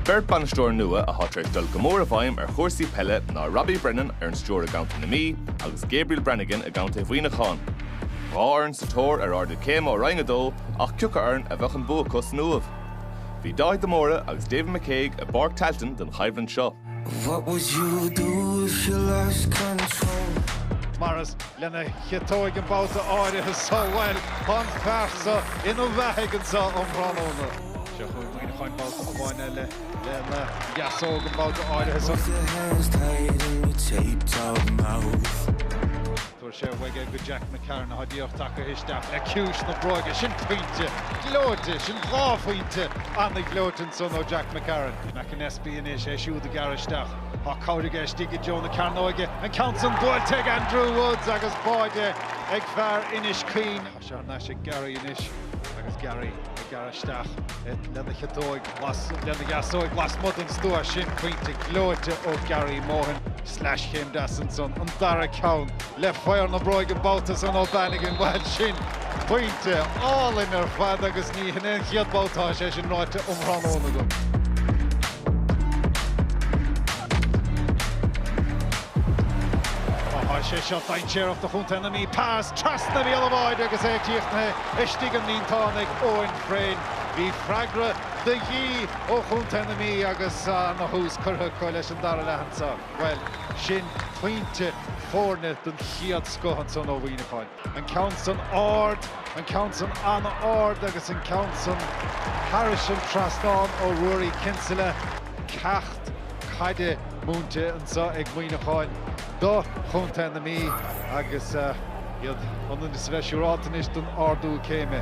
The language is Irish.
Beirt bainisteoir nua atá tar éis dul go mór i bhfeidhm ar chúrsaí peile ná Robbie Brennan ar an stiúir i gContae na Mí agus Gabriel Bannigan i gContae Mhuineacháin. Dhá fhoireann sa tóir ar ardú céime ó Roinn 2 ach cioca fhoireann a bheadh an bua acu san Uaimh? Bhí Dáithí de Mórdha agus David McCague i bPáirc Tailteann don choimhlint seo. What would you do if you lost control? Mar is lena chiotóig an babhta áirithe so, bhuel, tá an fear so ina bheathaigh anseo um thráthnóna. Seo chugainn Muineacháin babhta amháin eile lena dheasóg an babhta áirithe so. Tabharfaidh sé uaidh é go Jack McCarron atá díreach tagtha isteach le ciumhais na bróige. Sin pointe gleoite, sin dhá phointe ana-ghleoite ansan ó Jack McCarron. McAnespie anois, é siúd ag gearradh isteach. Tá cabhair aige istigh i dtreo na cearnóige, an ceann san buailte ag Andrew Woods agus báide ag fear Inis Caoin. Tá sé thar n-ais ag Gary anois agus Gary ag gearradh isteach lena chiotóig, lena dheasóig lasmuigh den stua sin. Pointe gleoite ó Gary Mohan. Sleaschéim deas ansan, an dara ceann. le faobhar na bróige an babhta san ó Bannigan. Bhuel, sin pointe álainn ar fad agus ní hin é an chéad bhabhta atá sé sin ráite um thráthnóna agam. Tá sé seo dainséarach do chontae na Mí, pas trasna bhéal an bháide agus é críochnaithe istigh sa líontán ag Eoin Frayne. Bhí freagra de dhíth ó chontae na Mí agus ana-thús curtha acu leis an dara leath anso. Bhuel, sin pointe foirne den chéad scoth ansan ó Mhuineacháin. An ceann san ard, an ceann san an-ard agus an ceann san thairis an trasnán ó Ruairí Kinsella. Ceacht caide múinte anso ag Muineacháin do chontae na Mí agus iad ionann is a bheith siúráilte anois den ardú céime.